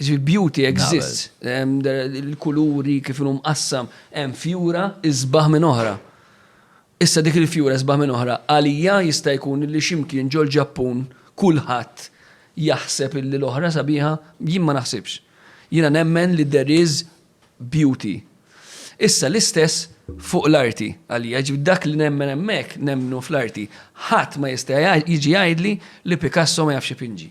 Jiġifieri beauty exists. Il-kuluri kif inhu mqassam, hemm fjura isbaħ minn oħra. Issa dik il-fjura isbaħ minn oħra, għalija jista' jkun li xi mkien ġol-Ġappun kulħadd jaħseb illi l-oħra sabiħa, jien ma naħsibx. Jiena nemmen li there is beauty. Issa l-istess fuq l-arti għalija, ġifieri dak li nemmen hemmhekk nemmnu fl-arti. Ħadd ma jista' jiġi jgħidli li Picasso ma jafx ipinġi.